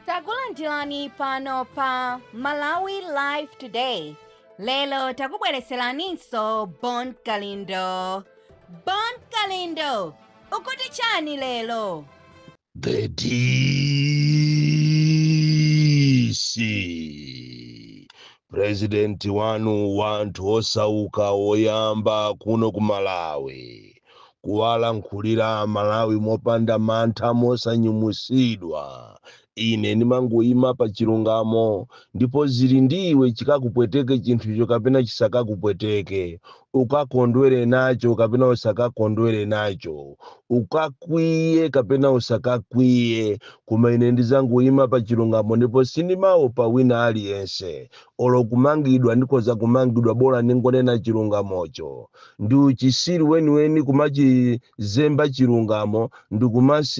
takulandirani pano pa malawi live today lero takubwereseraninso bon kalindo bon kalindo ukuti chani lero The DC president wanu wanthu osauka oyamba kuno ku Malawi kuwalankhulira amalawi mopanda mantha mosanyumusidwa ine ndimangoima pa chilungamo ndipo zili ndiwe chikakupweteke chinthucho kapena chisakakupweteke ukakondwere nacho kapena usakakondwere nacho ukakwiye kapena usakakwiye koma ine ndizangoima pa chilungamo ndipo sindimaopa wina aliyense olo kumangidwa ndikhoza kumangidwa bola ndingonena chilungamocho Ndiuchisiru weniweni kumachizemba chilungamo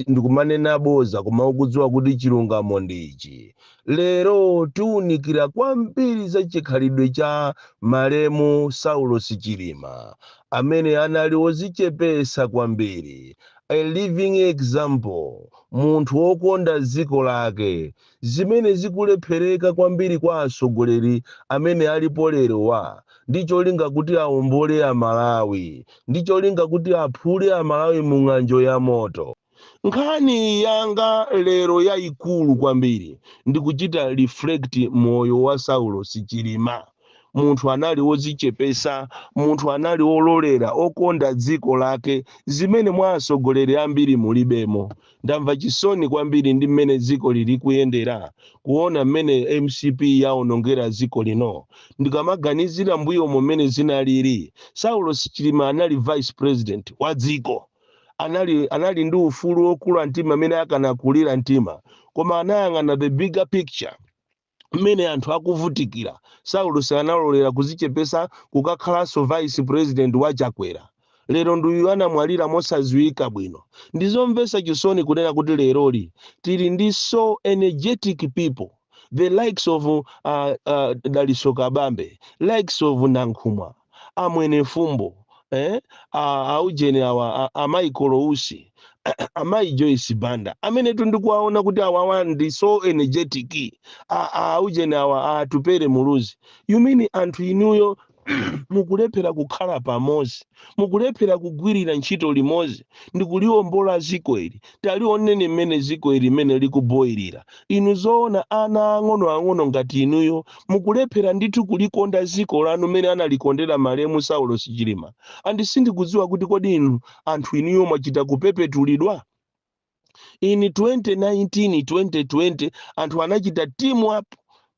ndikumanena boza koma ukudziwa kuti chilungamo ndi ichi. Lero tiunikira kwambiri za chikhalidwe cha malemu Saulos Chilima amene anali ozichepesa kwambiri, a living example, munthu okonda dziko lake, zimene zikulephereka kwambiri kwa atsogoleri amene alipo lerowa ndi cholinga kuti aombole a Malawi, ndi cholinga kuti aphule a Malawi mu ng'anjo ya moto. Nkhani yanga lero yaikulu kwambiri ndi kuchita reflect moyo wa Saulos Chilima. Munthu anali odzichepetsa, munthu anali ololera, okonda dziko lake, zimene mwa atsogoleri ambiri mulibemo. Ndamva chisoni kwambiri ndi mmene dziko lili kuyendera, kuona mmene mcp yaonongera dziko lino. Ndikamaganizira mbuyomo mmene zinalili, Saulos Chilima anali vice president wa dziko. Anali ndi ufulu wokula mtima mmene akanakulira mtima. Koma anayang'ana the bigger picture. mmene anthu akuvutikira saulosi analolera kuzichepesa kukakhalanso vice president wa chakwera lero ndi uyu anamwalira mosaziwika bwino ndizomvesa chisoni kunena kuti leroli tili ndi so energetic people the likes of uh, uh, daliso kabambe likes of nankhumwa a Mwenefumbo, eh, a, a ujeni awa a, a Michael Usi a Mai Joyce Banda amenetu ndikuwaona kuti awawa ndi so energetic a, a ujeni awa a Atupele Muluzi you mean anthu inuyo mukulephera kukhala pamodzi mukulephera kugwirira ntchito limodzi ndikuliwombola dziko ili Talioneni mmene dziko ili mmene likuboilira. Inu zoona ana ang'onoang'ono ngati inuyo mukulephera ndithu kulikonda dziko lanu mmene analikondera malemu Saulos Chilima? And sindikudziwa kuti kodi inu anthu inuyo mwachita kupepetulidwa? In 2019, 2020 anthu anachita team up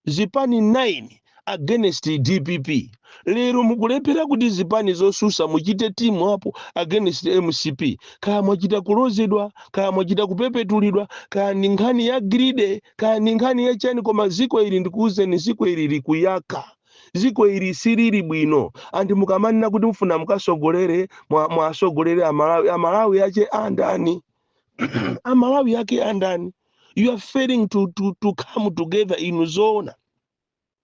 zipani 9 against dpp lero mukulephera kuti zipani zosusa muchite team up against mcp kaya mwachita kulozedwa kaya mwachita kupepetulidwa kaya ndi nkhani ya greed kaya ndi nkhani ya chani koma ziko ili ndikuuzeni ziko ili likuyaka ziko ili silili bwino anthu mukamanena kuti mfuna mukasogolere mwa- mwasogolere amalawi amalawi ache andani amalawi ake andani you are failing to, to, to come together inu zoona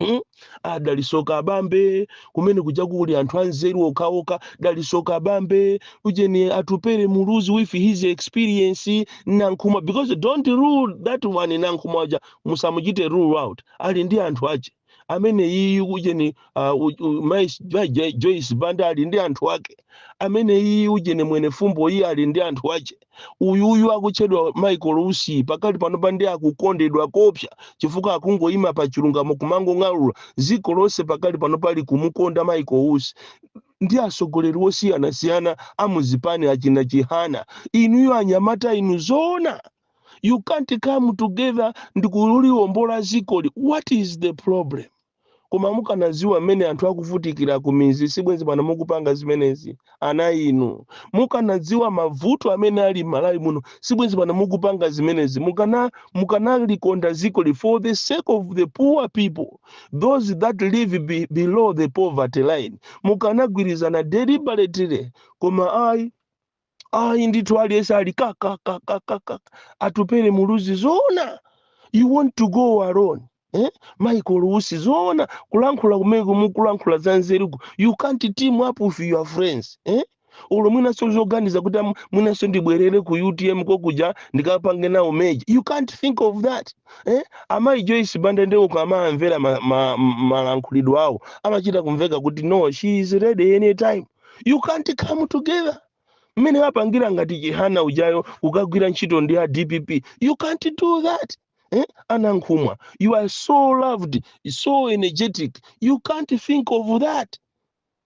Hmm? a dalitso kabambe kumene kuja kuli anthu anzeru okhaokha dalitso kabambe ujeni atupere muluzi with his experience nankhumwa because don't rule that one nankhumwa uja musamuchite rule out ali ndi anthu ache amene iyu ujeni uh, u- u- Mai Jo- Jo- joyce banda ali ndi anthu ake amene iyi ujeni mwenifumbo iye ali ndi anthu ache uyuyu akutchedwa michael usi pakali panopa ndi akukondedwa kopsa chifukwa akungoyima pa chilungamo kumangong'alura dziko lonse pakali pano pa likumukonda michael usi ndi atsogoleri osiyanasiyana amuzipani achina chihana inuyo anyamata inu zoona you can't come together ndikuliwombola zikoli what is the problem koma mukanaziwa mmene anthu akuvutikira kumizi sibwenzi pano mukupanga zimenezi ana inu mukanadziwa mavuto amene ali mmalawi muno sibwenzi pano mukupanga zimenezi mukana mukanalikonda zikoli for the sake of the poor people those that live be, below the poverty line mukanagwirizana deliberately koma ayi ayi ndithu aliyense ali kakakakakaka atupere muluzi zoona you want to go alone eh? michael usi zoona kulankhula kumeneko mukulankhula za nzeruko you can't team up with your friends eh? olo mwinanso zoganiza kuti am- mwinanso ndibwerere ku utm kokuja ndikapange nawo merger you can't think of that eh? amayi joyce banda nde ukamamvera malankhulidwe ma, ma, malankhulidwe awo amachita kumveka kuti no she is ready anytime you can't come together mmene wapangira ngati chihana ujayo kukagwira ntchito ndi a dpp you can't do that eh? anankhumwa you are so loved so energetic you can't think of that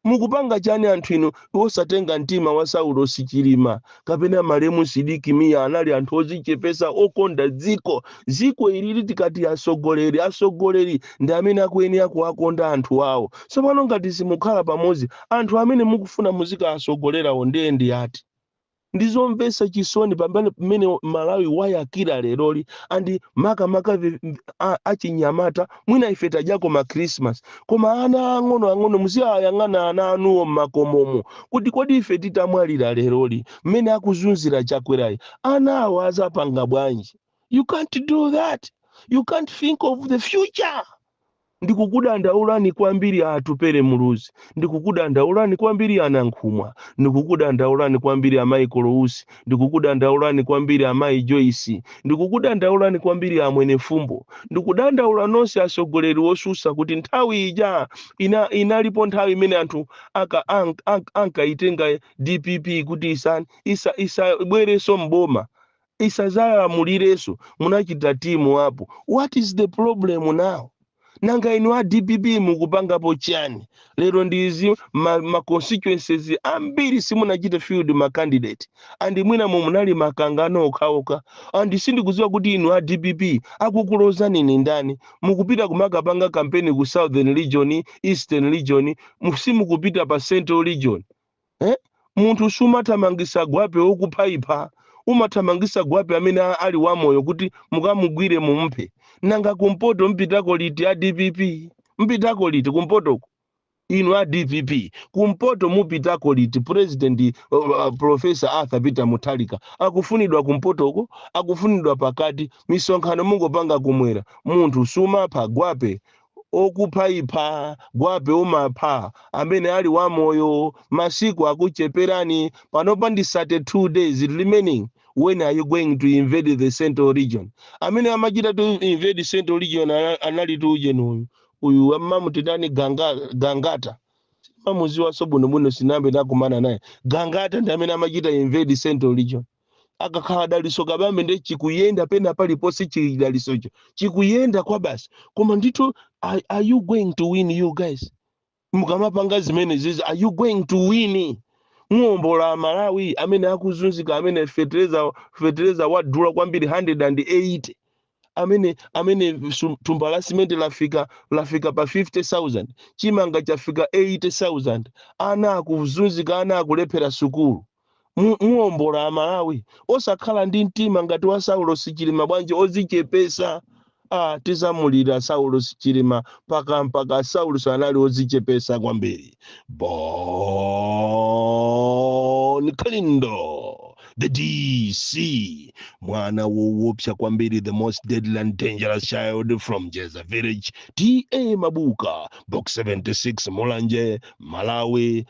mukupanga chani anthu inu osatenga mtima wa saulosi chilima kapena malemu sidik mia anali anthu ozichepesa okonda dziko dziko ilili tikati atsogoleri atsogoleri ndi amene akuyenera kuwakonda anthu awo tsopano ngati simukhala pamodzi anthu amene mukufuna muzikawatsogolerawo ndiye ndi ati ndizomvetsa chisoni pamene malawi wayakira leroli and makamaka vi- a- achinyamata mwina ife tadyako ma christmas koma ana ang'ono ang'ono muziwayang'ana ana anuwo mmakomomo kuti kodi ife titamwalira leroli mmene akuzunzira chakwerayi ana awo azapanga bwanji you can't do that you can't think of the future ndikukudandaulani kwambiri atupere muluzi ndikukudandaulani kwambiri anankhumwa ndikukudandaulani kwambiri amayi kolousi Ndikukudandaulani kwambiri amayi Joyce. Ndikukudandaulani kwambiri amwene Fumbo. Ndikudandaula nonse atsogoleri otsutsa kuti nthawi ija inalipo nthawi imene anthu ankayitenga dpp kuti isan, isa, isabwerenso m'boma, isadzalamulirenso. Munachita team up. What is the problem now? nanga inu a dpp mukupangapo chani lero ndizi ma, ma constituencies ambiri simunachite field ma candidate and mwina mu munali mikangano okhaokha and sindikudziwa kuti inu a dpp akukulozani ni ndani mukupita kumakapanga kampeni ku southern region eastern region mu- simukupita pa central region eh? munthu sumathamangisa gwape wokuphaipha umathamangisa gwape amene a- ali wamoyo kuti mukamugwire mumphe nanga kumpoto mupitako liti a dpp mupitako liti kumpotoko inu a dpp kumpoto mupitako liti president uh, uh, professor arthur peter mutharika akufunidwa kumpotoko akufunidwa pakati misonkhano mungopanga kumwera munthu sumapha gwape okuphaipha gwape umapha amene ali wamoyo masiku akucheperani panopa ndi 32 days remaining when are you going to invade the central region amene amachita to invade central region ana- analitu ujeni uyu uyu amamutitani ganga, gangata mumamuziwanso bwinobwino sinambe nakumana naye gangata ndi amene amachita invade central region akakhala daliso kabambe nde chikuyenda pena paliponse chidalisocho chikuyenda kwabasi koma ndithu are, are you going to win you guys mukamapanga zimenezizi are you going to win muombola amalawi amene akuzunzika amene fetereza fetereza wadula kwambiri 180 amene amene su- thumba la simenti lafika lafika pa 50000 chimanga chafika 80000 ana akuzunzika ana akulephera sukulu mu- muombola amalawi osakhala ndi mtima ngati wa saulos chilima bwanji ozichepesa ah, tizamulira saulos chilima mpaka mpaka saulos anali ozichepesa kwambiri bon kalindo the dc mwana wowopsa kwambiri the most deadly and dangerous child from jeza village ta mabuka box 76 mulanje malawi